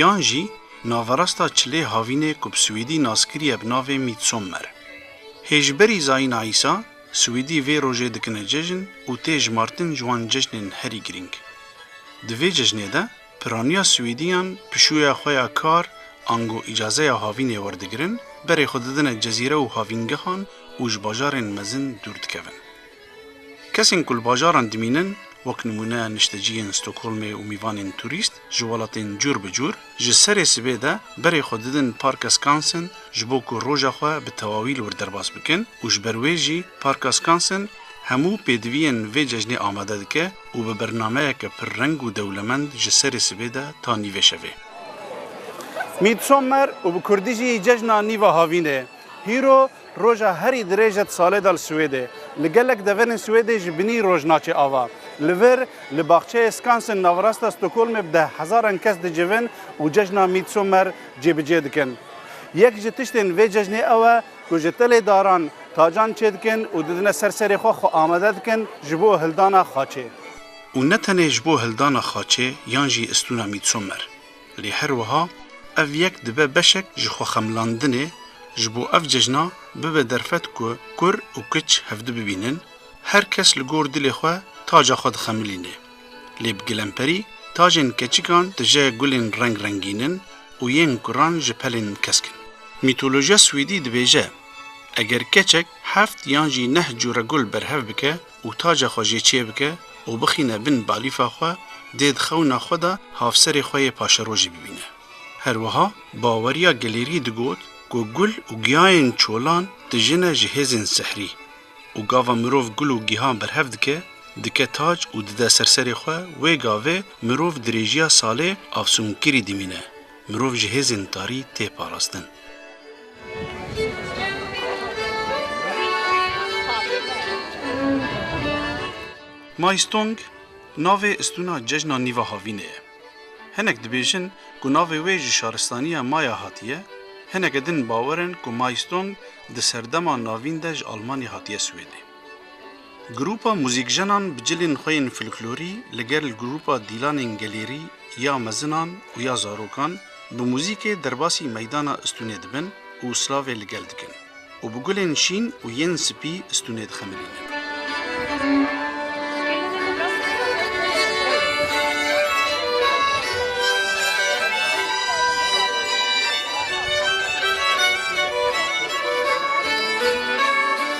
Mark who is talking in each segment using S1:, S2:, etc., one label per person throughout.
S1: Yan jî naverasta çilê havînê ku bi swîdî nas kiriye bi navê Midsommer. Hê ji berî zayîna Îsa, swîdî vê rojê dikine cejn û tê jimartin ji wan cejnên herî girîng. Di vê cejnê de piraniya swîdîyan pişûya xwe ya kar ango îcazeya havînê werdigirin, berê xwe didine cezîre û havîngehan û ji bajarên mezin dûr dikevin. Kesên ku li bajaran dimînin, wek nimûne nişteciyên Stockholmê û mîvanên turîst ji welatên cûr bi cûr, ji serê sibê de berê xwe didin Parka Skansen ji bo ku roja xwe bi tewawî li wir derbas bikin û ji ber wê jî Parka Skansen hemû pêdiviyên vê cejnê amade dike û bi bernameyeke pir reng û dewlemend ji serê sibê de ta nîvê şevê. Midsommer û bi kurdî jî Cejna Nîva Havînê, Hîro Roja herî dirêj e di salê de li Swêdê. Li gelek deverên Swêdê ji binî roj naçe ava. Li vir, li baxçeyê Skansen navrasta Stockholmê bi deh hezaran kes dicivin û cejna Midsommer cêbicê dikin. Yek ji tiştên vê cejnê ew e ku ji telê daran tacan çêdikin û didine ser serê xwe xwe amade dikin ji bo hildana xaçê. Û ne tenê ji bo hildana xaçê yan jî istûna Midsommer. Lê her wiha ev yek dibe beşek ji xwexemlandinê ji bo ev cejna bibe derfet ku kur û kiç hevdu bibînin, her kes li gor dilê xwe taca xwe dixemilîne. Lê bi gilemperî tajên keçikan tije gulên reng rengîn in û yên kuran ji pelên kesk in. Mîtolojiya swêdî dibêje, eger keçek heft yan jî neh cure gul berhev bike, û taca xwe jê çêbike û bixîne bin balîfa xwe dê di xewna xwe de hafserê xwe yê paşerojî bibîne. Her wiha Baweriya Gelêrî digot ku gul û giyayên çolan dijine ji hêzên sihrî û gava mirov gul û gihan berhev dike, dike tac û dide ser serê xwe wê gavê mirov dirêjiya salê afsûnkirî dimîne. Mirov ji hêzên tarî tê parastin. Maistong, navê istûna cejna Nîva Havînê ye. Hinek dibêjin ku navê wê ji şaristaniya Maya hatiye, hineke din bawer in ku Maistong di serdema navîn de ji Almanya hatiye Swêdê. Grûpa Muzîkjenan bi cilên xwe yên folklorî li gel grûpa Dîlanên Gelêrî ya mezinan û ya zarokan bi muzîkê derbasî meydana Istûnê dibin û slavê li gel dikin û bi gulên şîn û yên spî Istûnê dixemirînin.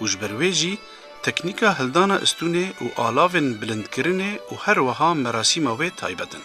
S1: û ji ber wê jî teknîka hildana istûnê û alavên bilindkirinê û her wiha merasîma wê taybet in.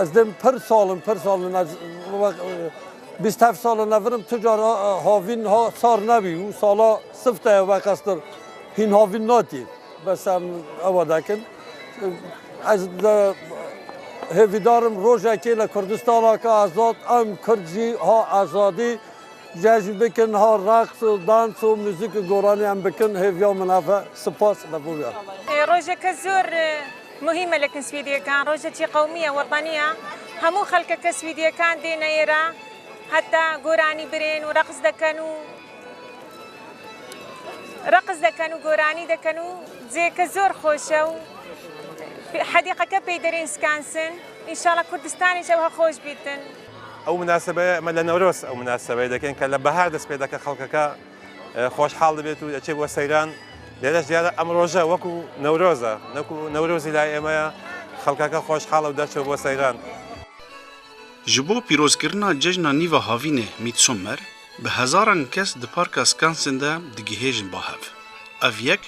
S1: Ez dê pir sal in, pir sal in. Ez bîst heft sal in evir im, tu cara havîn ha sar nebî û sala sifte ye veqestir hîn havîn natî. Bes em ewa dekin. Ez hêvîdar im rojekê li Kurdistana ke azad em Kurd jî ha azadî cejn bikin, ha reqs û dans û muzîk û goranî em bikin. Hêviya min ev e. Sipas li vir. Rojeke zor. Muhî melek in swîdyekan, rojekî qewmî ye, wetanî ye. Hemû xelkeke swîdyekan dê neyê re heta goranî birên û reqs dikin û reqs dikin û goranî dikin û cihêke zor xweş e û hedîqeke peyderên Skansen. Înşala Kurdistanê jî ewha xweş bîtin. Ew minasebeye me li Newroz ew minasebeye dikin ke li bahar dest pê dike xelkeke. Xweşhal dibêt û diçe bo seyran. Lêreş diyar e em roje wekû Newroz e. Nekû Newrozî layê ême ye. Xelkeke xweşhal e û derçe bo seyran. Ji bo pîrozkirina cejna nîva havînê Midsommer, bi hezaran kes di Parka Skansen de digihêjin bahev. Ev yek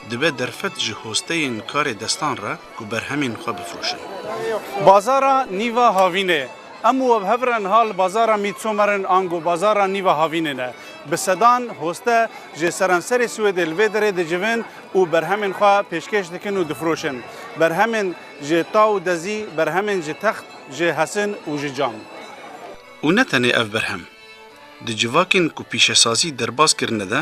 S1: Dibe derfet ji hosteyên karê destan re ku berhemên xwe bifroşin. Bazara Nîva Havînê, Em û webhev re niha li Bazara Mît Somer'in ango Bazara Nîva Havînê ne. Bi sedan hoste ji seranserê Swêdê li vê derê dicivin û berhemên xwe pêşkêş dikin û difroşin. Berhemên ji ta û dezî, berhemên ji text, ji hesin û ji cam. Û ne tenê ev berhem. Di civakên ku pîşesazî derbas kirine de,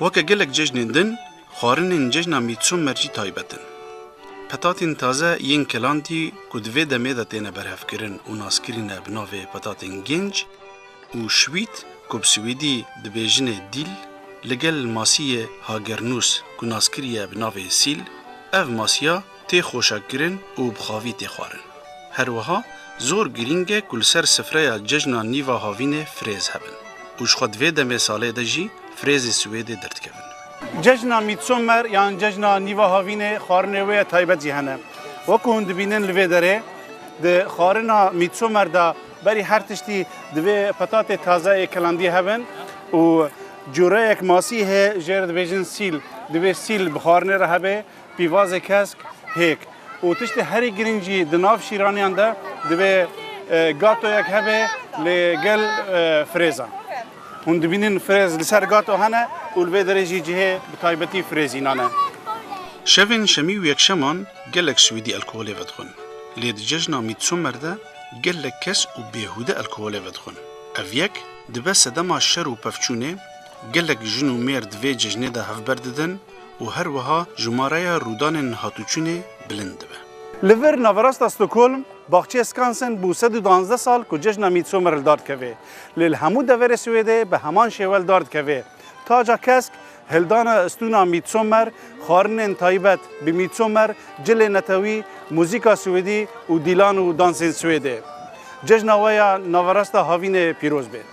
S1: Weke gelek cejnên din, xwarinên cejna Midsommer jî taybet in. Petatên taze yên kelantî ku di vê demê de têne berhevkirin û naskirîne bi navê petatên gênc û şwît ku bi swîdî dibêjinê dîl, li gel masiyê hagirnûs ku naskiriye bi navê sîl, ev masiya, tê xweşekirin û bi xavî tê xwarin. Her wiha zor girîng e ku li ser sifreya cejna nîva havînê firêz hebin û ji xwe di vê demê salê de jî firêzê Swêdê derdikevin. Cejna Midsommer yan cejna nîva havînê xwarinê wê ya taybet jî hene. Wek ku hûn dibînin li vê derê di xwarina Midsommer de berî her tiştî divê petatê taze ê kelandî hebin û cureyek masî heye jê re dibêjin sîl. Divê sîl bi xwarinê re hebê Pîvazê kesk, hêk û tiştê herî girîng jî di nav şîraniyan de divê gatoyek hebe li gel firêzan. Hûn dibînin firêz li ser gato hene û li vê derê jî cihê bi taybetî firêzînan e. Şevên şemî û yekşeman gelek Swîdî elkoholê vedixwin. Lê di cejna Midsommer de gelek kes û bêhûde elkoholê vedixwin. Ev yek dibe sedema şer û pevçûnê, gelek jin û mêr di vê cejnê de hevber didin, û her wiha jimareya rûdanên hatûçûnê bilind dibe. Li vir naverasta Stockholm, baxçeyê Skansen bû sed û duwazdeh sal ku cejna Midsommer li dar dikeve. Lê li hemû deverê Swêdê bi heman şêwe li dar dikeve. Taca kesk, hildana stûna Midsommer, xwarinên taybet bi Midsommer, cilê netewî, muzîka swêdî û dîlan û dansên Swêdê. Cejna we ya naverasta havînê pîroz bê.